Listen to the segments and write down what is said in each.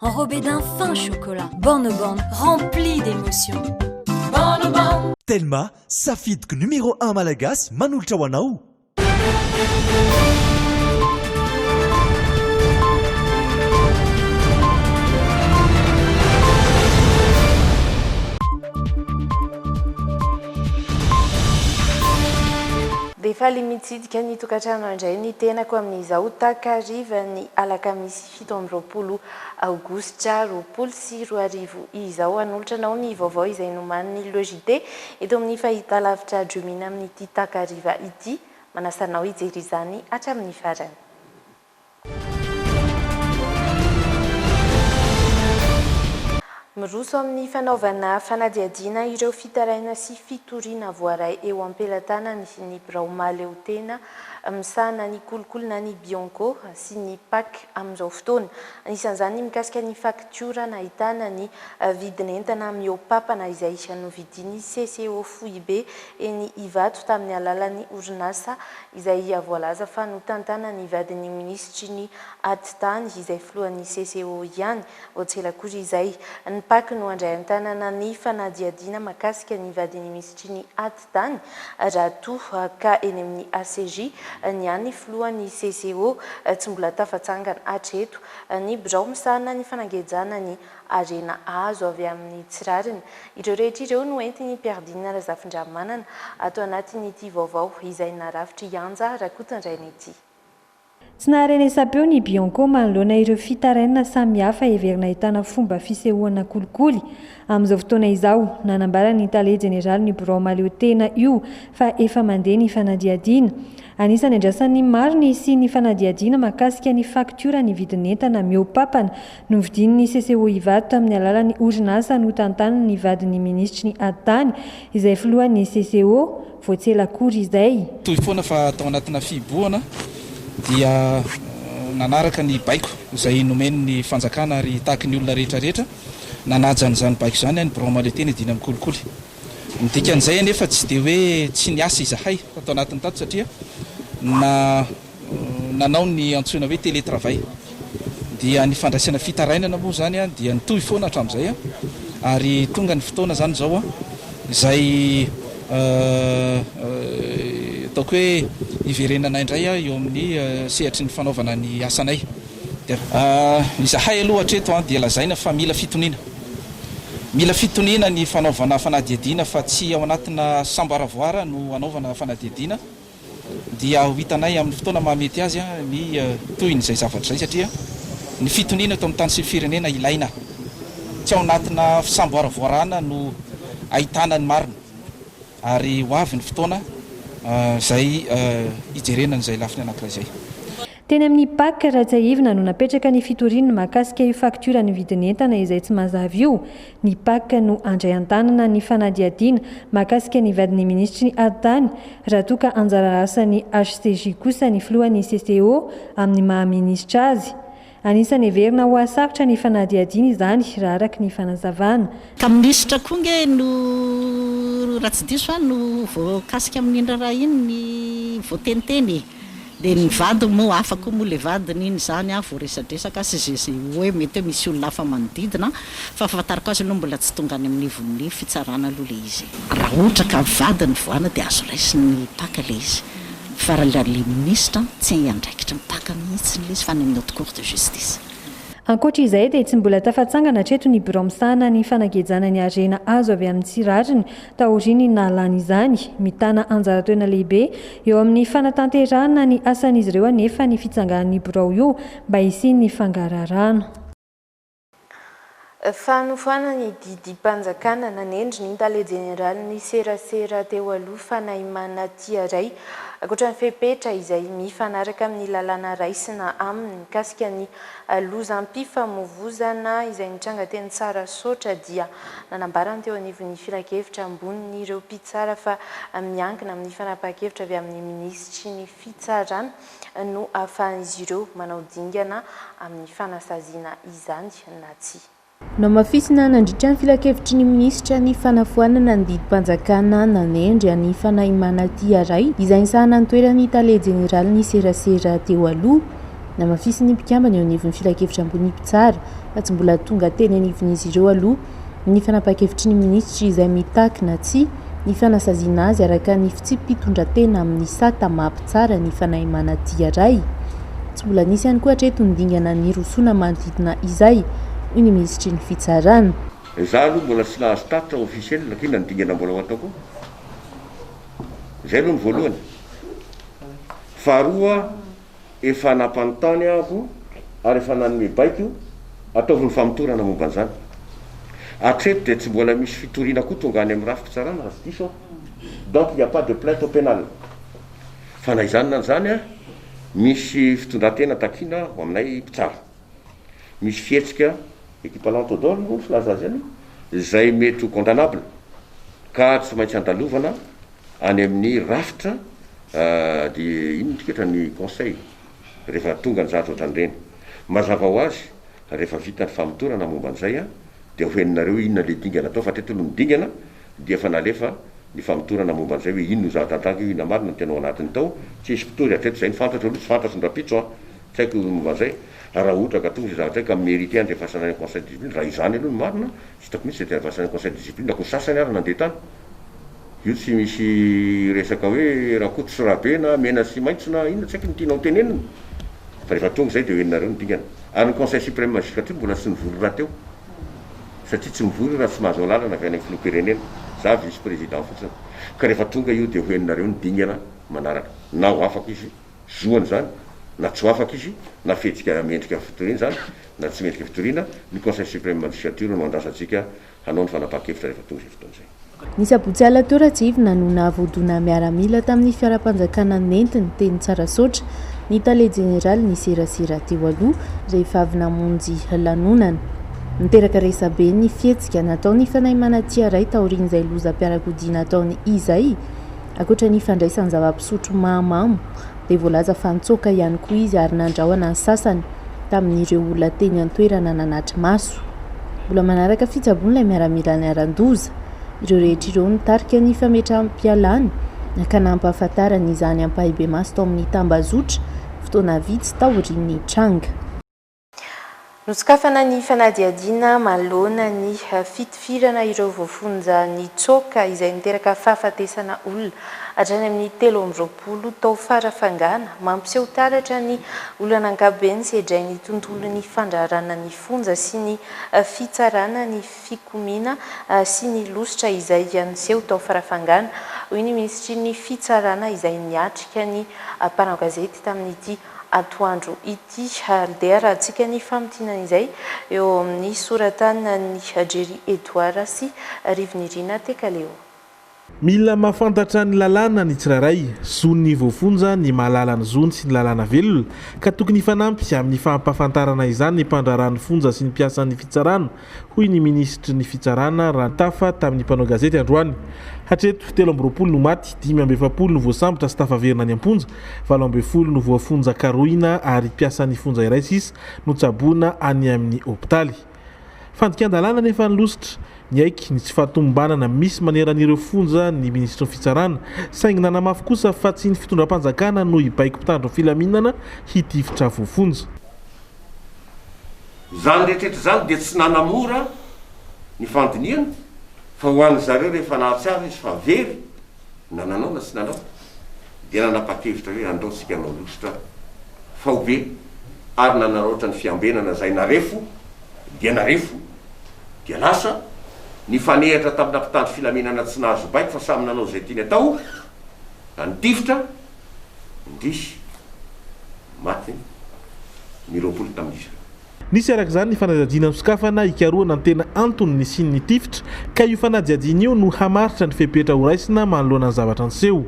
Enrobé d'un fin chocolat, Borne Borne remplie d'émotions. Borne Borne. Telma, safidiko numéro un malagasy manolotra ho anao. Dia faly mitsidika ny tokantrano handray ny tenako amin'izao takarivan'ny alakamisy. fito amby roapolo aogositra roapolo sy roa arivo izao. Hanolotra anao ny vaovao izay nomanin'ny LEJD eto amin'ny fahitalavitra Dreamina amin'ity takariva ity. Manasa anao hijery izany hatramin'ny farany. Miroso amin'ny fanaovana fanadihadiana ireo fitaraina sy fitoriana voaray eo am-pelatanany ny birao mahaleotena misahana ny kolikoly na ny Bianco sy ny Pac amin'izao fotoana. Anisan'izany ny mikasika ny faktiora nahitana ny vidin'entana mihoa-papana izay novidin'ny CCO Foibe eny Ivato tamin'ny alalan'ny orinasa izay voalaza fa notantanan'ny vadin'ny minisitry ny Atitany izay filohan'ny CCO ihany. Vao tsy ela koa izay, ny Pac no handray an-tanana ny fanadihadiana makasika ny vadin'ny minisitry ny Tany, raha toa ka eny amin'ny ACJ, ny an'ny filohan'ny CCO, tsy mbola tafatsangana hatreto ny birao misahana ny fanangejana ny harena azo avy amin'ny tsy rariny. Ireo rehetra ireo no entin'i Pierre Dina Razafindramanana ato anatin'ity vaovao izay narafitry Yanja Rakotondraina ity. Tsy naharenesam-peo ny Bianco manoloana ireo fitarainana samihafa heverina ahitana fomba fisehoana kolikoly. Amin'izao fotoana izao, nanambara ny tale jeneralin'io birao mahaleo tena io fa efa mandeha ny fanadihadiana. Anisan'ny andrasan'ny maro ny hisian'ny fanadihadiana mahakasika ny faktioran'ny vidin'entana mihoa-papana novidian'ny CCO Ivato tamin'ny alalan'ny orinasa notantanin'ny vadin'ny minisitry ny Ady Tany, izay filohan'ny CCO. Vao tsy ela akory izay. Toy foana fa tao anatina fihibohana dia nanaraka ny baiko izay nomen'ny fanjakana ary tahaky ny olona rehetra rehetra nanaja an'izany baiko izany ny birao Malete ny dina mikolikoly. Ny dikan'izay anefa tsy dia hoe tsy niasa izahay tao anatin'ny tato satria na. nanao ny antsoina hoe télétravail dia ny fandraisana fitarainana moa izany dia nitohy foana hatramin'izay ary tonga ny fotoana izany izao izay ataoko hoe hiverenanay indray eo amin'ny sehatry ny fanaovana ny asanay dia izahay aloha hatreto dia lazaina fa mila fitoniana mila fitoniana ny fanaovana fanadihadiana fa tsy ao anatina samboaravoara no hanaovana fanadihadiana. dia ho hitanay amin'ny fotoana mahamety azy ny tohiny izay zavatra izay satria ny fitoniana eto amin'ny tany sy ny firenena ilaina. Tsy ao anatina fisamboaravoarana no ahitana ny marina ary ho avy ny fotoana izay hijerena an'izay lafiny anankiray izay. Teny amin'ny Pac, Rajaivina no napetraka ny fitoriany mahakasika io faktioran'ny vidin'entana izay tsy mazava io. Ny Pac no handray an-tanana ny fanadihadiana mahakasika ny vadin'ny minisitry ny Haritany, raha toa ka anjara asan'ny HCJ kosa ny filohan'ny CCO amin'ny maha-minisitra azy. Anisan'ny heverina ho hahasarotra ny fanadihadiana izany, raha araka ny fanazavana. Ka minisitra koa ange no, raha tsy diso aho, no voakasika amin'iny raharaha iny ny voateniteny e! Dia ny vadiny moa, hafa koa moa ilay vadiny iny izany an, voaresadresaka sy izay izay hoe mety hoe misy olona hafa manodidina an, fa fahafantarako azy aloha mbola tsy tonga any amin'ny nivon'ny fitsarana aloha ilay izy e. Raha ohatra ka vadin'ny voaana dia azo raisin'ny mpaka ilay izy fa raha ilay ilay minisitra an, tsy hiandraikitry ny mpaka mihitsiny ilay izy fa any amin'ny haute cour de justice. Ankoatra izay dia tsy mbola tafatsangana hatreto ny birao misahana ny fanagejana ny harena azo avy amin'ny tsy rariny Taorian'ny nahalany izany, mitana anjara toerana lehibe eo amin'ny fanatanterahana ny asan'izy ireo anefa ny fitsangan'ny birao io mba hisian'ny fangaraharaana. Fanofanana ny didim-panjakana nanendry ny tale jeneralin'ny serasera teo aloha Fanaimana Tiaray, ankoatra ny fepetra izay mifanaraka amin'ny lalàna raisina aminy mikasika ny lozam-pifamovoizana izay nitranga teny Tsarasaotra dia Nanambara ny teo anivon'ny filankevitra ambonin'ireo mpitsara fa miankina amin'ny fanapahan-kevitra avy amin'ny minisitry ny Fitsarana no ahafahan'izy ireo manao dingana amin'ny fanasaziana izany na tsia. Namafisina nandritra ny filankevitry ny minisitra ny fanafoanana ny didim-panjakana nanendry an'i Fanahimanatiaray izay nisahana ny toeran'ny tale jeneralin'ny serasera teo aloha, Namafisin'ny mpikambana eo anivon'ny filankevitra ambony mpitsara fa tsy mbola tonga teny anivon'izy ireo aloha ny fanapahan-kevitry ny minisitry izay mitaky na tsia ny fanasaziana azy araka ny fitsipi-pitondran-tena amin'ny sata maha mpitsara ny fanahy manadia ray. Tsy mbola nisy ihany koa hatreto ny dingana nirosoana manodidina izay, hoy ny minisitry ny fitsarana. Izaho aloha mbola tsy nahazo tatitra ofisiely na koa inona ny dingana mbola ho atao koa. Izay aloha ny voalohany. Faharoa, Efa nampanontany aho ary efa nanome baiko, ataovy ny famotorana momba an'izany. Hatreto dia tsy mbola misy fitoriana koa tonga any amin'ny rafi-pitsarana raha tsy diso aho. Donc il n'y a pas de plainte au pénal. Fa na izany na izany, misy fitondran-tena takiana ho aminay mpitsara. Misy fihetsika, équipalant au dol moa ny filaza azy any, izay mety ho condamnable ka tsy maintsy andalovana Any amin'ny rafitra dia inona ity ketra ny conseil rehefa tonga ny zavatra ohatran'ireny? Mazava ho azy rehefa vita ny famotorana momba an'izay dia hohenonareo inona ilay dingana atao fa hatreto aloha ny dingana dia efa nalefa ny famotorana momba an'izay hoe inona io zavatra andragno io inona marina ny tena ao anatiny tao tsy hisy mpitory hatreto izay ny fantatro aloha tsy fantatro ny rahampitso an tsy haiko momba an'izay raha ohatra ka tonga izay zavatra izay ka mi-merite andrefasana any amin'ny conseil de discipline raha izany aloha no marina tsy hitako mihitsy izay te handrefasana any amin'ny conseil de discipline akory sasany ary nandeha tany Io tsy misy resaka hoe rakoto sy rabe na mena sy maitso na inona tsy haiko ny tianao tenenina fa rehefa tonga izay dia ho henonareo ny dingana. Ary ny conseil supreme magistrature mbola tsy nivory rahateo satria tsy mivory io raha tsy mahazo alalana avy any amin'ny filoham-pirenena, za vice président fotsiny. Ka rehefa tonga io dia ho henonareo ny dingana manaraka. Na ho afaka izy, zoany izany, na tsy ho afaka izy, na fihetsika mendrika fitoriana izany na tsy mendrika fitoriana, ny conseil supreme magistrature no andrasantsika hanao ny fanapahan-kevitra rehefa tonga izay fotoana izay. Ny sabotsy alina teo Ratsivina no nahavoadona miaramila tamin'ny fiaram-panjakana nentiny teny Tsarasaotra ny tale jeneraly niserasera teo aloha rehefa avy namonjy lanonana. Niteraka resabe ny fihetsika nataon'ny fanahy manatia iray taorian'izay lozam-piarakodia nataony izay, ankoatra ny fandraisany zava-pisotro mahamamo dia voalaza fa nitsoaka ihany koa izy ary nandrahona ny sasany tamin'ireo olona teny an-toerana nanatri-maso. Mbola manaraka fitsaboana ilay miaramila niharan-doza. Ireo rehetra ireo no tarika ny fametraham-pialany ka nampahafantarany izany ampahibemaso tao amin'ny tambazotra fotoana vitsy taorian'ny tranga. Nosokafana ny fanadihadiana manoloana ny fitifirana ireo voafonja nitsoaka izay niteraka fahafatesana olona hatrany amin'ny telo amby roapolo tao Farafangana, mampiseho taratra ny olana ankapobeny sedrain'ny tontolon'ny fandraharana ny fonja sy ny fitsarana ny fikomiana sy ny losotra izay niseho tao Farafangana, hoy ny Minisitry ny Fitsarana izay niatrika ny mpanao gazety tamin'ity atoandro ity. Handeha arahantsika ny famintinana izay eo amin'ny soratanan'i Jerry Edouard sy Rivinirina Tekaleo. Mila mahafantatra ny lalàna ny tsirairay. Zon'ny voafonja ny mahalala ny zony sy ny lalàna velona, ka tokony hifanampy amin'ny fampahafantarana izany ny mpandraharaha ny fonja sy ny mpiasan'ny fitsarana, hoy ny minisitry ny Fitsarana, Rantafa, tamin'ny mpanao gazety androany. Hatreto, telo amby roapolo no maty, dimy amby efapolo no voasambotra sy tafaverina any am-ponja, valo ambin'ny folo no voafonja karohina ary mpiasan'ny fonja iray sisa no tsaboina any amin'ny hopitaly. Fandikan-dalàna anefa ny lositra. Niaiky ny tsy fahatomombanana misy maneran'ireo fonja ny minisitry ny Fitsarana, saingy nanamafy kosa fa tsy ny fitondram-panjakana no hibaiko mpitandro ny filaminana hitifitra voafonja. Izany rehetra izany dia tsy nanamora ny fandinihana fa ho an'ny zareo rehefa nahatsiaro izy fa very na nanao na tsy nanao dia nanapa-kevitra hoe andao tsika hanao lustre faobe ary nanaraotra ny fiambenana izay narefo dia narefo dia lasa nifanehatra tamina mpitandro filaminana tsy nahazo baiko fa samy nanao izay tiany atao na nitifitra indrisy Maty ny roapolo tamin'izy ireo. Nisy araka izany ny fanadihadiana nosokafana hikarohana ny tena antony nisian'ny tifitra, ka io fanadihadiana io no hamaritra ny fepetra horaisina manoloana ny zavatra niseho.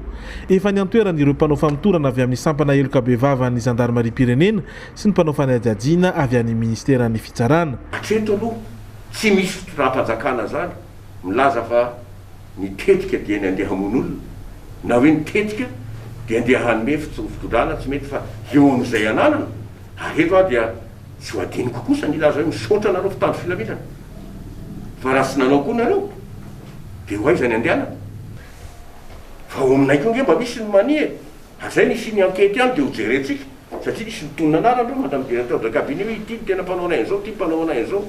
Efa niantoerana ireo mpanao famotorana avy amin'ny sampana heloka bevavan'ny zandarimariam-pirenena sy ny mpanao fanadihadiana avy any minisiteran'ny fitsarana. Hatreto aloha tsy misy fitondram-panjakana izany milaza fa. Ny tetika dia ny andeha hamono olona, na hoe ny tetika dia andeha hanome fitsorom-pitondrana tsy mety fa eo amin'izay ananana, ary eto aho dia tsy ho adinoko kosa ny hilaza hoe misaotra anareo mpitandro filaminana, fa raha tsy nanao koa nareo dia ho aiza ny andehanana? Fa ao aminay koa nge mba misy ny mania e! ary zay no hisian'ny ankety any dia ho jerentsika, satria misy mitonona anarana eo madame directeur de cabinet hoe ity no tena mpanao anay an'izao, ity mpanao anay an'izao.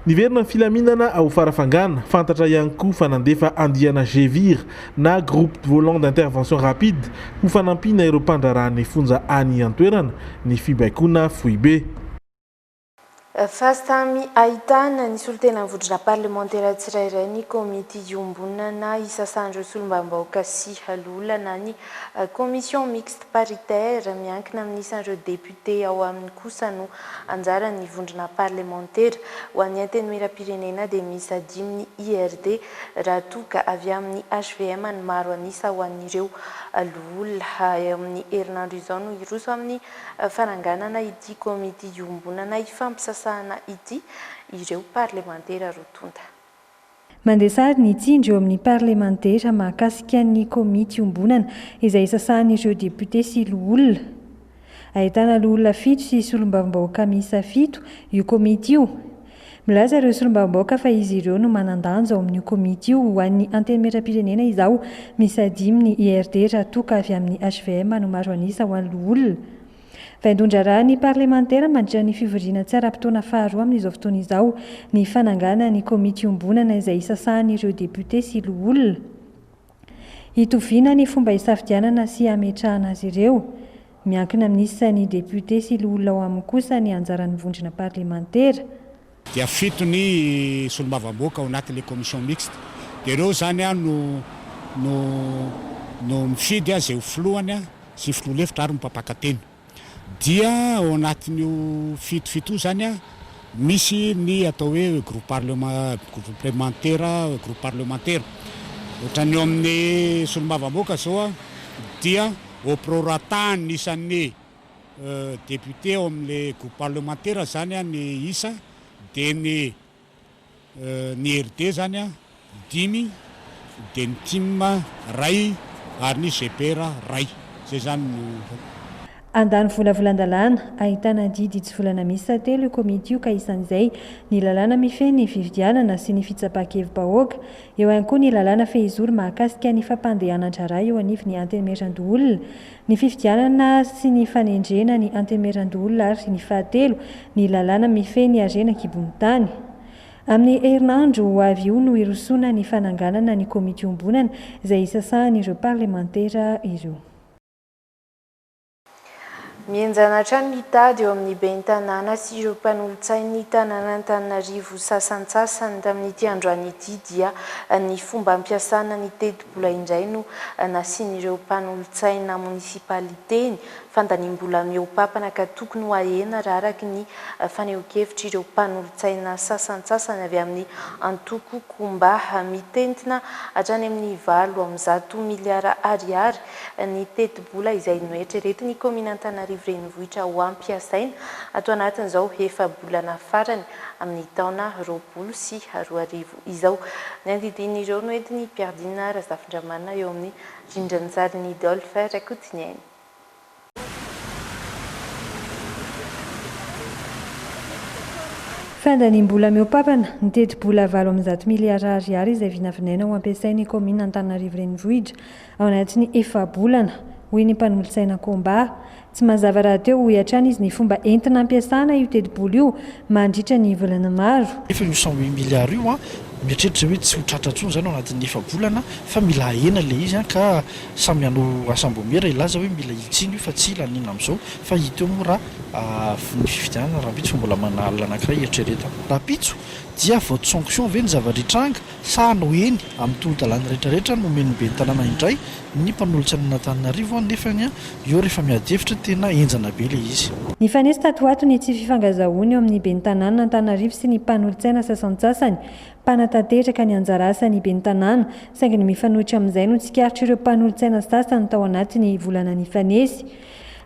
Niverina ny filaminana ao Farafangana, fantatra ihany koa fa nandefa andiana Gevir na Groupe Volant d'Intervention Rapide ho fanampiana ireo mpandraharaha ny fonja any an-toerana ny fibaikoana foibe. Efa samy ahitana ny solontenan'ny vondrona parlemantera tsirairay ny komity iombonana isasan'ireo solombavambahoaka sy loholona na ny commission mixte paritaire miankina amin'ny isan'ireo députés. dia ao aminy kosa no anjaran'ny vondrona parlemantera. Ho an'ny Antenimierampirenena dia miisa dimy ny IRD raha toa ka avy amin'ny hvm ny maro an'isa ho an'ireo loholona. Eo amin'ny herinandro izao no hiroso amin'ny fananganana ity komity iombonana ifampisasahana ity ireo parlemantera roa tonta. Mandresary ny tsindry eo amin'ny parlemantera mahakasika ny komity iombonana izay isasahan'ireo depiote sy loholona. Ahitana loholona fito sy solombavambahoaka miisa fito io komity io. Milaza ireo solombavambahoaka fa izy ireo no manan-danja ao amin'io komity io ho an'ny Antenimierampirenena izao miisa dimy ny IRD raha toa ka avy amin'ny hvm no maro an'isa ho an'ny loholona. Vaindohan-draharahan'ny parlemantera mandritra ny fivoriana tsy ara-potoana faharoa amin'izao fotoana izao ny fanangana ny komity iombonana izay isasahan'ireo depiote sy loholona hitoviana ny fomba hisafidianana sy hametrahana azy ireo. Miankina amin'isa ny depiote sy loholona ao aminy kosa ny anjaran'ny vondrona parlemantera. dia fito ny solombavamboaka ao anatin'ilay commission mixte dia ireo izany no no no mifidy izay ho filohany sy ny filoha lefitra ary ny mpampaka teny dia ao anatin'io fito fito io izany misy ny atao hoe groupe parlement groupe parlemantera groupe parlemantera ohatran'ny eo amin'ny solombavamboaka izao dia au prorata ny isan'ny Député ao amin'ilay groupe parlementaire zany an ny isa dia ny ny RD zany an dimy dia ny tim ray ary ny GPR ray zay zany no. Handany volavolan-dalàna ahitana didy hitsivolana miisa telo io komity io ka isan'izay ny lalàna mifehy ny fifidianana sy ny fitsapan-kevi-bahoaka. Eo ihany koa ny lalàna fehizoro mahakasika ny fampandehanan-draharaha eo anivon'ny Antenimierandoholona Ny fifidianana sy ny fanendrena ny Antemeran-doholona ary ny fahatelo, ny lalàna mifehy ny harena an-kibon'ny tany. Amin'ny herinandro ho avy io no hirosoana ny fananganana ny komity iombonana izay hisasahan'ireo parlemantera ireo. Mihenjana hatrany ny tady eo amin'ny ben'ny tanàna sy ireo mpanolotsain'ny tanànan'Antananarivo sasantsasany tamin'ity androany ity dia ny fomba ampiasana ny teti Vola indray no nasian'ireo mpanolotsaina monisipaliteny fandaniam-bola mihoa-papana ka tokony ho ahena raha araka ny fanehoan-kevitr'ireo mpanolotsaina sasantsasany avy amin'ny antoko Kumba mitentina hatrany amin'ny valo amby zato miliara ariary ny tetibola izay noeritreretin'ny kaominina Antananarivo Renivohitra ho ampiasaina ato anatin'izao efa-bolana farany amin'ny taona roapolo sy roa arivo. izao. Ny andidian'ireo no entin'i Piardina Razafindramanana eo amin'ny rindranjarin'i Dolph Rakotoneni. Fandaniam-bola mihoa-papana, ny tetibola valo amby zato miliara ariary izay vinavinaina ho ampiasain'ny kaominina Antananarivo Renivohitra Ao anatin'ny efa-bolana, hoy ny mpanolotsaina Komba. Tsy mazava rahateo, hoy hatrany izy, ny fomba entina ampiasana io tetibola io mandritra ny volana maro. Nefa io cent huit milliards io, mieritreritra izay hoe tsy ho tratra intsony izany ao anatin'ny efa-bolana fa mila ahena ilay izy ka samy hanao asambomera hilaza hoe mila hitsiny io fa tsy hila an'inona amin'izao fa hita eo moa raha voa ny fifidianana rahampitso fa mbola manana alina anankiray eritreretana rahampitso dia vote sanction ve ny zava-dritranga Tsaho no eny amin'ny tolo-dalàna rehetra rehetra no omen'ny ben'ny tanàna indray ny mpanolotsa an'Antananarivo an, nefany an, eo rehefa miady hevitra tena henjana be ilay izy. Nifanesy tato ho ato ny tsy fifangazahoana eo amin'ny ben'ny tanànan'Antananarivo sy ny mpanolotsaina sasantsasany mpanatanteraka ny anjara asan'ny ben'ny tanàna, saingy ny mifanohitra amin'izay no tsikaritr'ireo mpanolotsaina sasany tao anatin'ny volana nifanesy.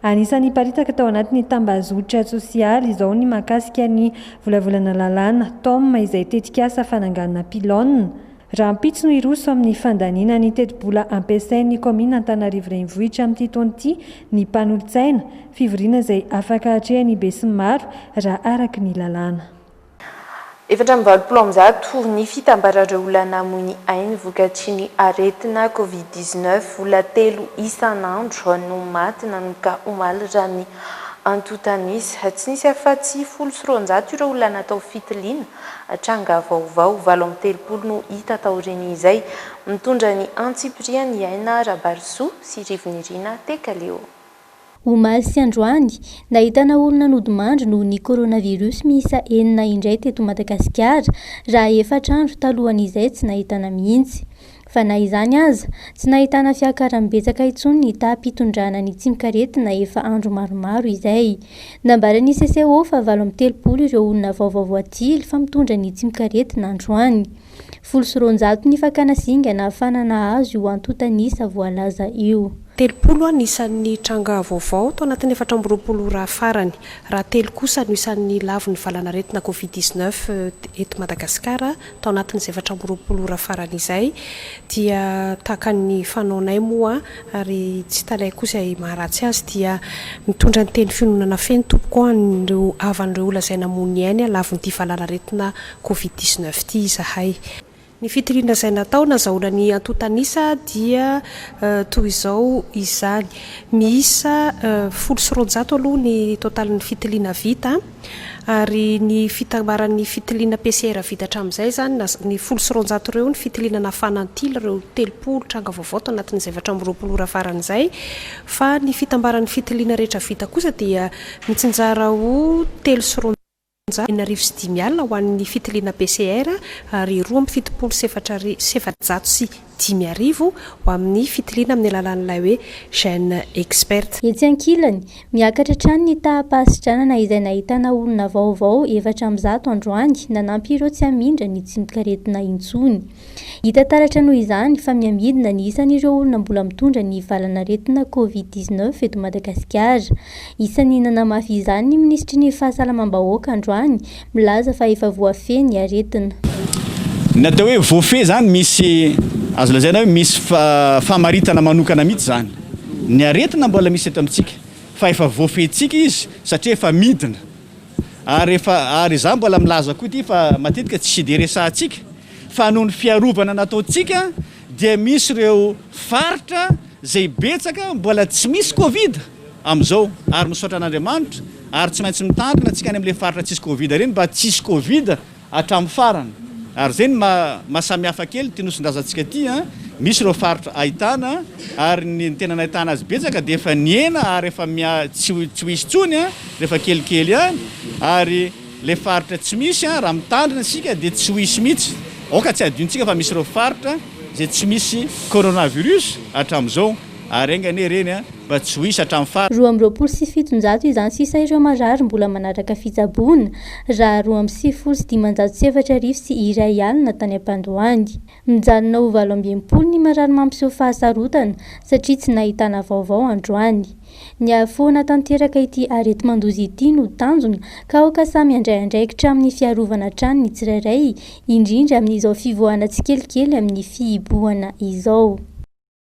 Anisan'ny niparitaka tao anatin'ny tambazotra tsosialy izao ny mahakasika ny Volavolana Lalàna, Tom, izay tetikasa fananganana pylône rahampitso no hiroso amin'ny fandaniana ny tetibola ampiasain'ny kaominina Antananarivo Renivohitra amin'ity taona ity ny mpanolotsaina, fivoriana izay afaka hatrehan'ny besinimaro raha araka ny lalàna. Efatra amby valopolo amby zato ny fitambaran'ireo olona namoy ny ainy vokatry ny aretina Covid dix-neuf. Olona telo isan'andro no maty nanomboka omaly raha ny antontanisa. Tsy nisy afa-tsy folo sy roanjato ireo olona natao fitiliana. Tranga vaovao valo amby telopolo no hita taorian'izay. Mitondra ny antsipiriany Aina Rabarisoa sy Rivo Nirina Tekaleo. Omaly sy androany, nahitana olona nodimandry noho ny coronavirus miisa enina indray teto Madagasikara, raha efatra andro talohan'izay tsy nahitana mihitsy. Fa na izany aza, tsy nahitana fiakaran'ny betsaka intsony ny taham-pitondrana ny tsimok'aretina efa andro maromaro izay. Nambaran'ny CCO fa valo amby telopolo ireo olona vaovao voatily fa mitondra ny tsimok'aretina androany. Folo sy roanjato ny fakana zinga nahafahana nahazo io antontan'isa voalaza io. Telopolo ny isan'ny tranga vaovao tao anatin'ny efatra amby roapolo ora farany, raha telo kosa no isan'ny lavon'ny valanaretina Covid dix-neuf eto Madagasikara tao anatin'izay efatra amby roapolo ora farany izay, dia tahaka ny fanaonay moa ary tsy talaiko kosa izay maharatsy azy dia mitondra ny teny fiononana feno tompoko ho an'ireo havan'ireo lazaina mony ainy lavon'ity valanaretina Covid dix neuf ity izahay. Ny fitoriana izay natao nazahoana ny antontan'isa dia toy izao izany, miisa folo sy roanjato aloha ny totalin'ny fitiliana vita ary ny fitambaran'ny fitiliana PCR vita hatramin'izay izany na ny folo sy roanjato ireo ny fitiliana nafana antily ireo telopolo tranga vaovao tao anatin'izay efatra amby roapolo ora faran'izay fa ny fitambaran'ny fitiliana rehetra vita kosa dia mitsinjara ho telo sy Monja, enina arivo sy dimy alina ho an'ny fitiliana PCR ary roa amby fitopolo sy efatra arivo sy efajato sy dimy arivo ho amin'ny fitiliana amin'ny alalan'ilay hoe Gene Expert. Etsy ankilany, miakatra hatrany ny taham-pahasidranana izay nahitana olona vaovao efatra amby zato androany nanampy ireo tsy hamindra ny tsimokaretina intsony. Hita taratra noho izany fa mihamidina ny isan'ireo olona mbola mitondra ny valan'aretina Covid dix neuf eto Madagasikara. Isan'ny nanamafy izany ny minisitry ny Fahasalamam-bahoaka androany, milaza fa efa voafehy ny aretina. Ny atao hoe voafehy izany misy, azo lazaina hoe misy famaritana manokana mihitsy izany. Ny aretina mbola misy eto amintsika fa efa voafehintsika izy satria efa midina. Ary efa ary izaho mbola milaza koa ity fa matetika tsy dia resahantsika fa noho ny fiarovana nataontsika dia misy ireo faritra izay betsaka mbola tsy misy covid amin'izao ary misaotra an'Andriamanitra ary tsy maintsy mitandrina tsika any amin'ilay faritra tsisy covid ireny mba tsy hisy covid hatramin'ny farany. Ary izay no maha maha samihafa kely ity Nosindrazantsika ity an! Misy ireo faritra ahitana ary ny tena nahitana azy betsaka dia efa nihena ary efa miha tsy ho tsy ho hisy intsony an! rehefa kelikely ihany ary ilay faritra tsy misy an! raha mitandrina isika dia tsy ho hisy mihitsy. Aoka tsy hadinontsika fa misy ireo faritra izay tsy misy coronavirus hatramin'izao. Ary enga anie ireny a, mba tsy ho hisy hatramin'ny farany. Roa amby roapolo sy fitonjato izany sisa ireo marary mbola manaraka fitsaboana, raha roa amby sivifolo sy dimanjato sy efatra arivo sy iray alina tany am-pandoany. Mijanona ho valo amby enimpolo ny marary mampiseho fahasarotana satria tsy nahitana vaovao androany. Ny hahafoana tanteraka ity areti-mandoza ity no tanjona ka aoka samy handray andraikitra amin'ny fiarovana hatrany ny tsirairay, indrindra amin'izao fivoahana tsikelikely amin'ny fihibohana izao.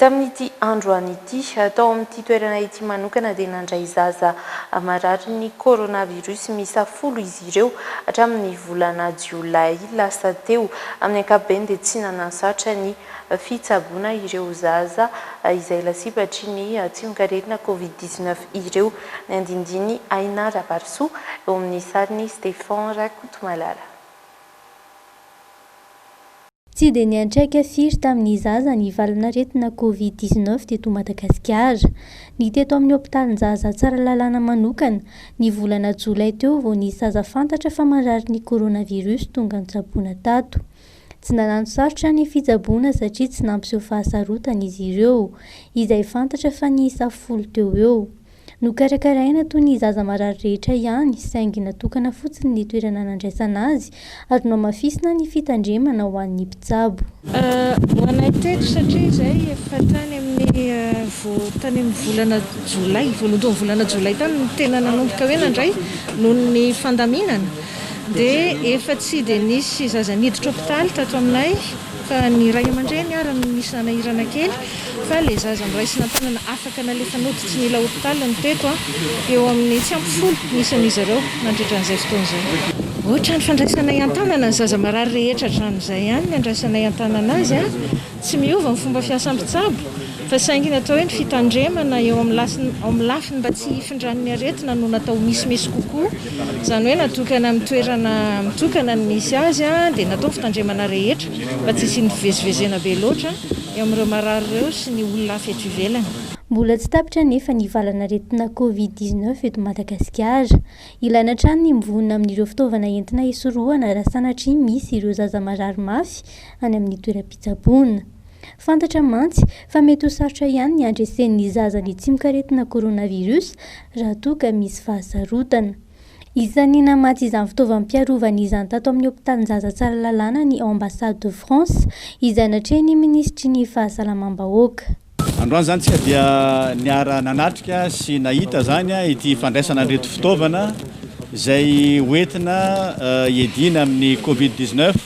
Tamin'ity androany ity, tao amin'ity toerana ity manokana dia nandray zaza mararin'ny coronavirus miisa folo izy ireo hatramin'ny volana jiolay lasa teo. Amin'ny ankapobeny dia tsy nanansaotra ny fitsaboana ireo zaza izay lasibatra ny tsimok'aretina covid dix-neuf ireo ny andinindin'i Aina Rabarisoa, eo amin'ny sarin'i Stephan Rakotomalala. Tsy dia niantraika firy tamin'ny zaza ny valan'aretina Covid dix neuf teto Madagasikara. Ny teto amin'ny hopitalinjaza Tsaralalàna manokana, ny volana jolay teo vao nisy zaza fantatra fa marary ny coronavirus tonga notsaboina tato. Tsy nanano sarotra ny fitsaboana satria tsy nampiseho fahasarotana izy ireo, izay fantatra fa niisa folo teo eo. Nokarakaraina toy ny zaza marary rehetra ihany, saingy natokana fotsiny ny toerana nandraisana azy ary nohamafisina ny fitandremana ho an'ny mpitsabo. Ho anay teto satria izay efa tany amin'ny tany amin'ny volana jolay, voalohandohan'ny volana jolay tany no tena nanomboka hoe nandray noho ny fandaminana dia efa tsy dia nisy zaza niditra hopitaly tato aminay. Ka ny ray aman-dreny ary no misy hanahirana kely fa ilay zaza noraisina an-tanana afaka nalefa nody tsy nila hopitaly no teto an! Eo amin'ny tsy ampy folo ny isan'izy ireo nandritra an'izay fotoana izay. Ohatran'ny fandraisanay an-tanana ny zaza marary rehetra hatramin'izay ihany ny andraisanay an-tanana azy an! Tsy miova ny fomba fiasa mpitsabo Fa saingy ny atao hoe ny fitandremana eo amin'ny amin'ny lafiny mba tsy hifindran'ny aretina no natao ho misimisy kokoa. Izany hoe natokana amin'ny toerana mitokana ny misy azy dia natao ny fitandremana rehetra mba tsy hisian'ny fivezivezena be loatra eo amin'ireo marary ireo sy ny olona hafa eto ivelany. Mbola tsy tapitra anefa ny valan'aretina Covid dix neuf eto Madagasikara. Ilaina hatrany ny mivonona amin'ireo fitaovana entina hisorohana raha sanatria misy ireo zaza marary mafy any amin'ny toeram-pitsaboana. Fantatra mantsy fa mety ho sarotra ihany ny handresen'ny zaza ny tsimok'aretina coronavirus raha toa ka misy fahasarotana. Isan'ny namatsy izany fitaovam-piarovana izany tato amin'ny hopitalinjaza Tsaralalàna ny Ambassade de France, izay natrehin'ny minisitry ny Fahasalamam-bahoaka. Androany izany isika dia niara-nanatrika sy nahita izany ity fandraisana an'ireto fitaovana izay hoentina hiadiana amin'ny covid dix-neuf.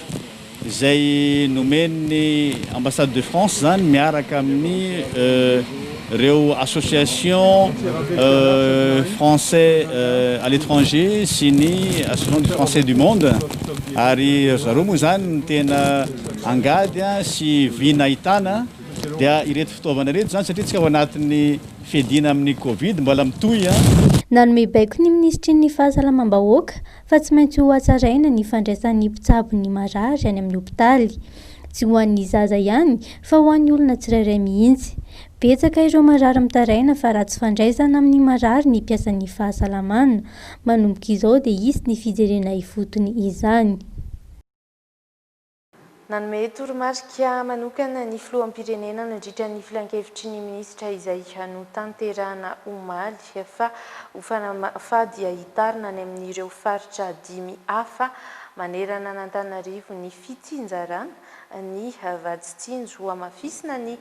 izay nomen'ny Ambassade de France izany miaraka amin'ny ireo association français à l'étranger sy ny association des français du monde ary ry zareo moa izany no tena angady sy vy nahitana dia ireto fitaovana ireto izany satria tsika ao anatin'ny fiadiana amin'ny covid mbola mitohy. Nanome baiko ny minisitry ny Fahasalamam-bahoaka, fa tsy maintsy ho hatsaraina ny fandraisan'ny mpitsabo ny marary any amin'ny hopitaly. Tsy ho an'ny zaza ihany fa ho an'ny olona tsirairay mihitsy. Betsaka ireo marary mitaraina fa ratsy fandraisana amin'ny marary ny mpiasan'ny fahasalamana. Manomboka izao dia hisy ny fijerena ifotony izany. Nanome toromarika manokana ny filoham-pirenena nandritra ny filankevitry ny minisitra izay notanterahina omaly fa ho fanamafà dia hitarina any amin'ireo faritra dimy hafa manerana an'Antananarivo ny fitsinjarana ny vaditsinjo hamafisina ny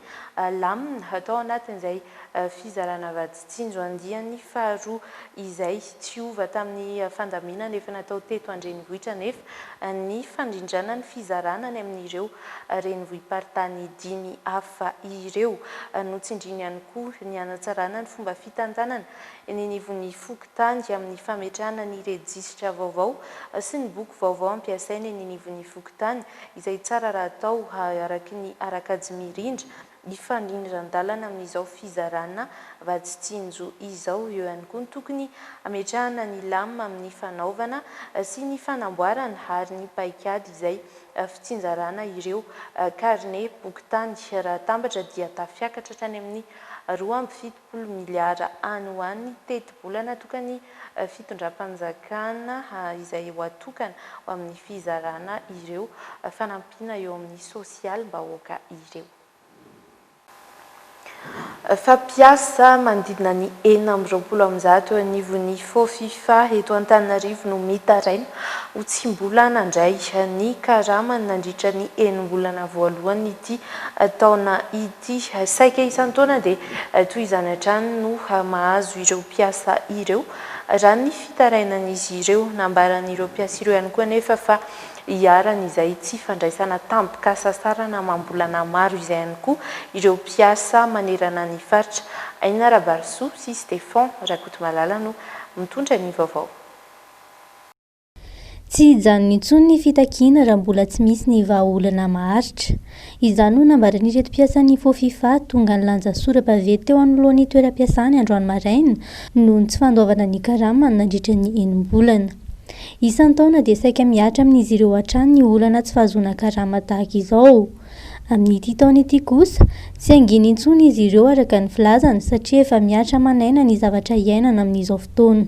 lamina hatao anatin'izay fizarana vaditsinjo tsinjo andiany faharoa izay tsy hova tamin'ny fandaminana efa natao teto an-drenivohitra anefa ny fandrindrana ny fizarana any amin'ireo renivohi-paritany dimy hafa ireo. Notsindriany ihany koa ny hanatsarana ny fomba fitantanana eny anivon'ny fokontany amin'ny fametrahana ny rejisitra vaovao sy ny boky vaovao ampiasaina eny anivon'ny fokontany izay tsara raha atao araky ny ara-kajy mirindra hifandrindran-dalana amin'izao fizarana vatsy tsinjo izao. Eo ihany koa ny tokony hametrahana ny lamina amin'ny fanaovana sy ny fanamboarana ary ny paikady izay fitsinjarana ireo karine boky tany. Raha atambatra dia tafiakatra hatrany amin'ny roa amby fitopolo roapolo miliara any ho any tetibolana tokany fitondram-panjakana izay ho atokana ho amin'ny fizarana ireo fanampiana eo amin'ny sosialim-bahoaka ireo. Fampiasa manodidina ny enina amby roapolo amin'ny zato eo anivon'ny Fofifa eto Antananarivo no mitaraina ho tsy mbola nandray ny karamany nandritra ny enim-bolana voalohan'ity taona ity. Ity saika isan-taona dia toy izany hatrany no mahazo ireo mpiasa ireo, raha ny fitarainan'izy ireo. Nambaran'ireo mpiasa ireo ihany koa anefa fa iharan'izay tsy fandraisana tampoka sasarana amam-bolana maro izay ihany koa ireo mpiasa manerana ny faritra. Aina Rabarisoa sy Stefan Rakotomalala no mitondra ny vaovao. Tsy hijanona intsony ny fitakiana raha mbola tsy misy ny vahaolana maharitra. Izany no nambaran'ireto mpiasan'ny Fofifa tonga nilanja sora-baventy teo anoloan'ny toeram-piasany androany maraina noho ny tsy fandoavana ny karamany nandritra ny enim-bolana. Isan-taona dia saika mihatra amin'izy ireo hatrany ny olana tsy fahazoana karama tahaka izao. Amin'ity taona ity kosa, tsy hangina intsony izy ireo araka ny filazany satria efa mihatra aman'aina ny zavatra iainana amin'izao fotoana.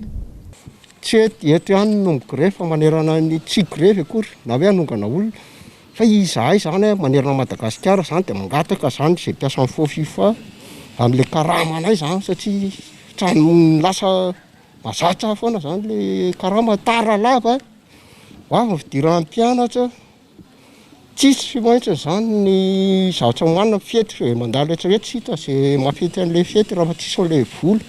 Tsy hoe eto ihany no migrevy fa manerana ny tsy higrevy akory na hoe hanongana olona fa izahay izany hoe manerana an'i Madagasikara izany dia mangataka izany izay mpiasan'ny Fofifa amin'ilay karamanay izany satria hatramin'ny lasa mahazatra foana izany ilay karama, tara lava, ho avy ny fidiran'ny mpianatra. Tsisy maintsy izany ny zatra hohanina amin'ny fety fa dia mandalo rehetrarehetra tsy hita izay mahafety an'ilay fety raha fa tsisy an'ilay vola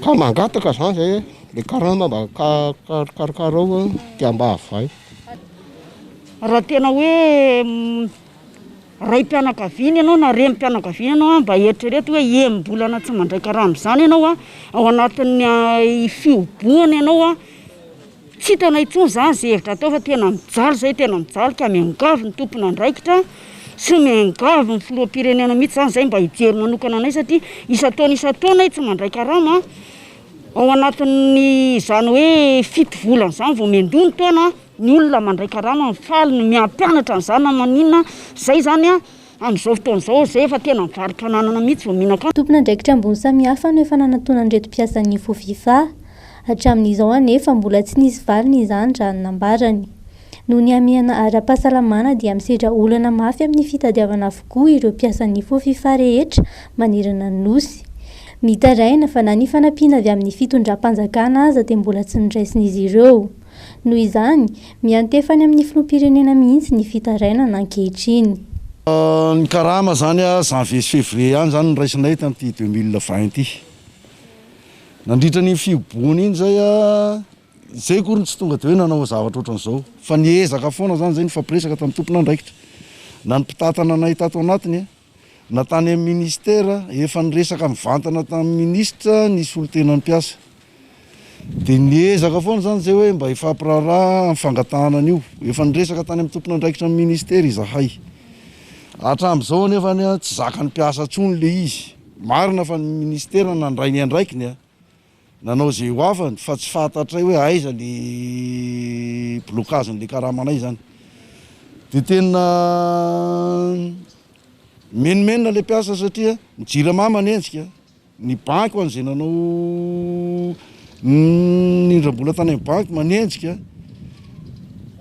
ka mangataka izany izay hoe ilay karama mba karokarokao a dia mba havay. Raha tena hoe raim-pianakaviana ianao na renim-pianakaviana ianao a mba eritrereto hoe enim-bolana tsy mandray karama izany ianao a ao anatin'ny fihobohana ianao a Tsy hitanay intsony izany izay hevitra atao fa tena mijaly izay tena mijaly ka miangavy ny tompon'andraikitra sy miangavy ny filoham-pirenena mihitsy izany izay mba hijery manokana anay satria isan-taona isan-taona ay tsy mandray karama ao anatin'ny izany hoe fito volana izany vao miandoha ny taona ny olona mandray karama faly ny miampianatra an'izany na maninona izay izany a Amin'izao fotoana izao, izay efa tena mivarotra ananana mihitsy vao mihinan-kanina. Tompon'andraikitra ambony samihafa no efa nanantonan'ireto mpiasan'ny Fofifa. Hatramin'izao anefa mbola tsy nisy valiny izany raha ny nambarany. Noho ny hamehana ara-pahasalamana dia misedra olana mafy amin'ny fitadiavana avokoa ireo mpiasan'ny Fofifa rehetra manerana ny Nosy. Mitaraina fa na ny fanampiana avy amin'ny fitondram-panjakana aza dia mbola tsy noraisn'izy ireo. Noho izany, miantefa any amin'ny filoham-pirenena mihitsy ny fitarainana ankehitriny. Ny karama izany, janvier sy février ihany izany no raisinay tamin'ity deux mille vingt ity. Nandritra an'iny fihibohana iny izay, izay akory no tsy tonga dia hoe nanao zavatra ohatran'izao fa niezaka foana izany izay, nifampiresaka tamin'ny tompon'andraikitra na ny mpitantana anay tato anatiny. Na tany amin'ny Minisitera, efa niresaka mivantana tamin'ny Minisitra ny solotenan'ny mpiasa. Dia niezaka foana izany izay hoe mba hifampiraharaha amin'ny fangatahana an'io. Efa niresaka tany amin'ny tompon'andraikitra ny Minisitera izahay. Hatramin'izao anefa tsy zakan'ny mpiasa intsony ilay izy. Marina fa ny Minisitera nandray ny andraikiny Nanao izay ho afany fa tsy fantatray hoe aiza ny blocage-n'ilay karamanay izany. Dia tena mimenomenona ilay mpiasa satria ny Jirama manenjika, ny banky ho an'izay nanao nindram-bola tany amin'ny banky manenjika,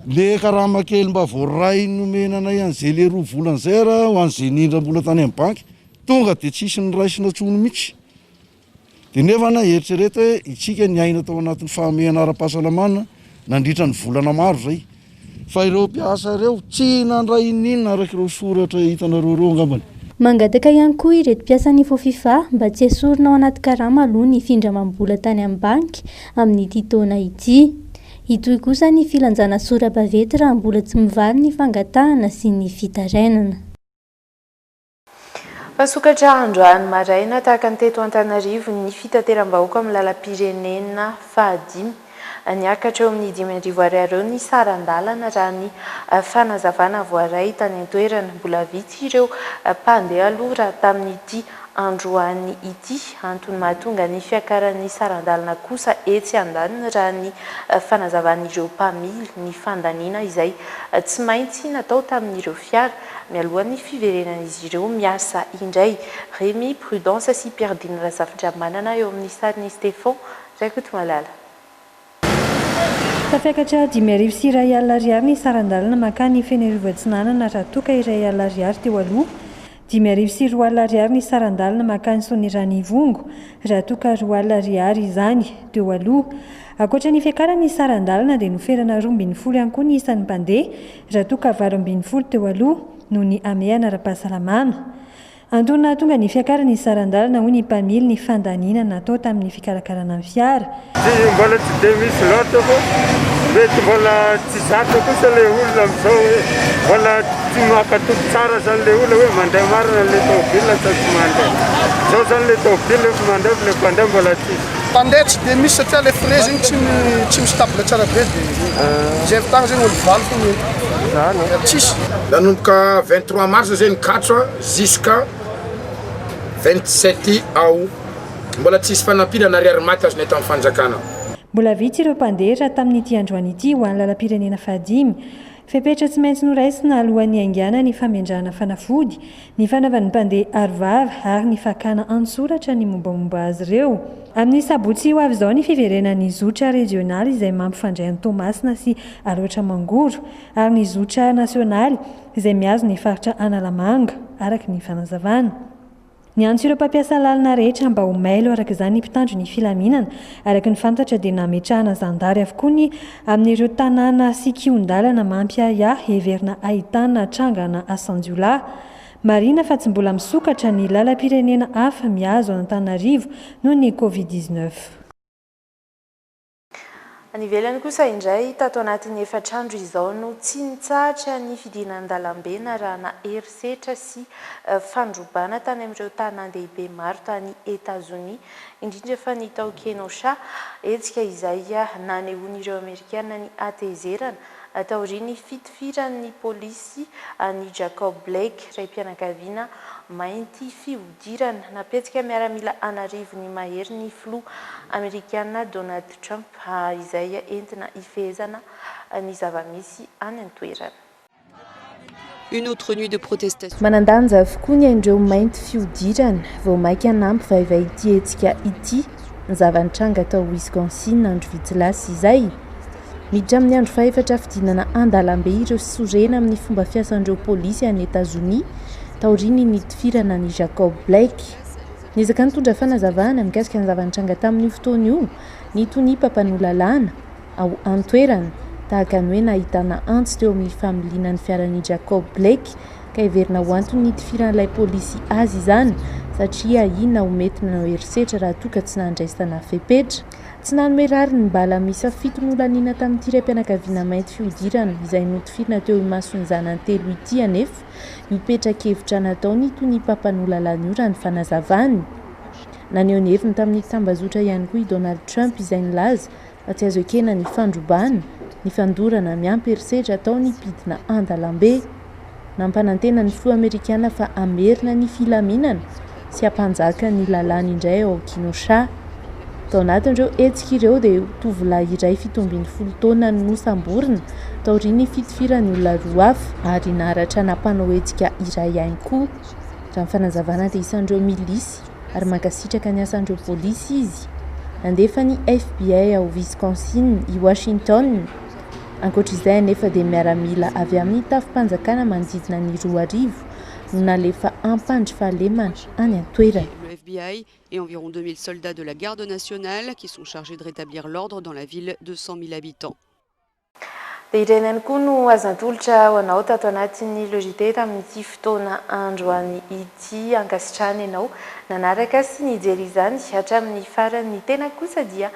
le karama kely mba voaray nomena anay an'izay le roa volana izay ary ho an'izay nindram-bola tany amin'ny banky, tonga dia tsisy niraisina intsony mihitsy. Dia nefa na eritrereto hoe isika niaina tao anatin'ny fahamehana ara-pahasalamana nandritra ny volana maro izay, fa ireo mpiasa ireo tsy nandray inon'inona araka ireo soratra hitanareo ireo angambany. Mangataka ihany koa ireto mpiasan'ny Fofifa mba tsy esorina ao anaty karama aloha ny findramam-bola tany amin'ny banky amin'ity taona ity. Hitohy kosa ny filanjana sora-bavety raha mbola tsy mivaly ny fangatahana sy ny fitarainana. Misokatra androany maraina tahaka ny teto Antananarivo ny fitateram-bahoaka amin'ny lalam-pirenena fahadimy. Niakatra eo amin'ny dimy arivo ariary eo ny saran-dalana raha ny fanazavana voaray tany an-toerana. Mbola vitsy ireo mpandeha aloha raha tamin'ity androany ity. Antony mahatonga ny fiakaran'ny saran-dalana kosa etsy andaniny raha ny fanazavan'ireo mpamily ny fandaniana izay tsy maintsy natao tamin'ireo fiara mialohan'ny fiverenan'izy ireo miasa indray. Remy Prudence sy Perdine Razafindramanana eo amin'ny sarin'i Stephon Rakotomalala. Tafiakatra dimy arivo sy iray alina ariary ny saran-dalana mankany Fenerivo Atsinanana raha toa ka iray alina ariary teo aloha. Dimy arivo sy roa alina ariary ny saran-dalana mankany Soanierana Ivongo raha toa ka roa alina ariary izany teo aloha. Ankoatra ny fiakaran'ny saran-dalana dia noferana roa ambin'ny folo ihany koa ny isan'ny mpandeha Raha toa ka valo ambin'ny folo teo aloha no nihamehana ara-pahasalamana. Antony nahatonga ny fiakaran'ny saran-dalana hoy ny mpamily ny fandaniana natao tamin'ny fikarakarana ny fiara. Tsy mbola tsy dia misy loatra fa mety mbola tsy zatra kosa ilay olona amin'izao hoe mbola tsy mankatoky tsara zany ilay olona hoe mandeha marina ilay taobila sa tsy mandeha. Izao zany ilay taobila efa mandeha fa ilay mpandeha mbola tsy. Tande tsy dia misy satria ilay frais zegny tsy tsy mi-stable tsara be dia zay fotoagna zegny olo valo fô ny ento dia tsisy. Nanomboka vingt trois mars zay ny catch a jusqu'à vingt sept aout. Mbola tsisy fanampiana na ariary maty azonay tamin'ny fanjakana. Mbola vitsy ireo mpandeha raha tamin'ity androany ity ho any lalam-pirenena fahadimy. Fepetra tsy maintsy noraisina alohan'ny haingana ny famendrahana fanafody, ny fanaovan'ny mpandeha arovava ary ny fakana an-tsoratra ny mombamomba azy ireo. Amin'ny sabotsy ho avy izao ny fiverenan'ny zotra rejionaly izay mampifandray an'i Toamasina sy Alaotra Mangoro ary ny zotra nasionaly izay mihazo ny faritra Analamanga, araka ny fanazavana. Niantso ireo mpampiasa lalana rehetra mba ho mailo araka izany ny mpitandro ny filaminana. Araka ny fantatra dia nametrahana zandary avokoa ny amin'ireo tanàna sy kihon-dalana mampiahiahy heverina ahitana trangana asan-jiolahy. Marihina fa tsy mbola misokatra ny lalam-pirenena hafa mihazo an'Antananarivo noho ny Covid dix-neuf. Any ivelany kosa indray, tato anatin'ny efatr'andro izao no tsy nitsahatra ny fidinan-dalambe narahana herisetra sy fandrobana tany amin'ireo tanàn-dehibe maro tany Etazonia, indrindra fa ny tao Kenosha, hetsika izay nanehoan'ireo Amerikana ny hatezerana, taorian'ny fitifiran'ny polisy an'i Jacob Blake, raim-pianakaviana mainty fihodirana. Fidirana nampihetsika miaramila an'arivony mahery ny filoha amerikana Donald Trump izay entina hifehezana ny zava-misy any an-toerana. Une autre nuit de protestation. Manan-danja avokoa ny ain'ireo mainty fihodirana. Vao maika nampivaivay ity hetsika ity ny zava-nitranga tao Wisconsin andro vitsy lasa izay. Miditra amin'ny andro fahefatra fidinana an-dalambe ireo sorena amin'ny fomba fiasan'ireo polisy any Etazonia, taorian'ny nitifirana an'i Jacob Blake. Niezaka nitondra fanazavana mikasika ny zava-nitranga tamin'io fotoana io ny tonia mpampanoa lalàna ao an-toerana, tahaka ny hoe nahitana antsy teo amin'ny familiana ny fiaran'i Jacob Blake, ka heverina ho anton'ny nitifiran'ilay polisy azy izany satria ahiana ho mety nanao herisetra raha toa ka tsy nandraisana fepetra. Tsy nanome rariny ny bala miisa fito nolaniana tamin'ity raim-pianakaviana mainty fihodirana izay notifirina teo imason'ny zanany telo ity anefa io petra-kevitra nataony itony i Papa Nolalana io raha ny fanazavany. Naneho ny heviny tamin'ny tambazotra ihany koa i Donald Trump izay nilaza fa tsy azo ekena ny fandrobana, ny fandorana miampy herisetra atao ny mpidina an-dalambe. Nampanantena ny filoha amerikana fa hamerina ny filaminana sy hampanjaka ny lalàna indray ao Kenosha. Tao anatin'ireo hetsika ireo dia tovolahy iray fito ambin'ny folo taona no nosamborina taorian'ny fitifirany olona roa hafa ary naratra nampanao hetsika iray ihany koa. Raha ny fanazavana dia isan'ireo milisy ary mankasitraka ny asan'ireo polisy izy. Nandefa ny FBI ao Wisconsin i Washington. Ankoatra izay anefa dia miaramila avy amin'ny tafi-panjakana manodidina ny roa arivo no nalefa ampandry fahalemana any an-toerana. le FBI et environ 2000 soldats de la garde nationale qui sont chargés de rétablir l'ordre dans la ville de 100 mille habitants. Dia ireny ihany koa no azo natolotra ho anao tato anatin'ny Logitech tamin'ity fotoana androany ity. Ankasitrahana ianao nanaraka sy nijery izany hatramin'ny farany. Ny tenako kosa dia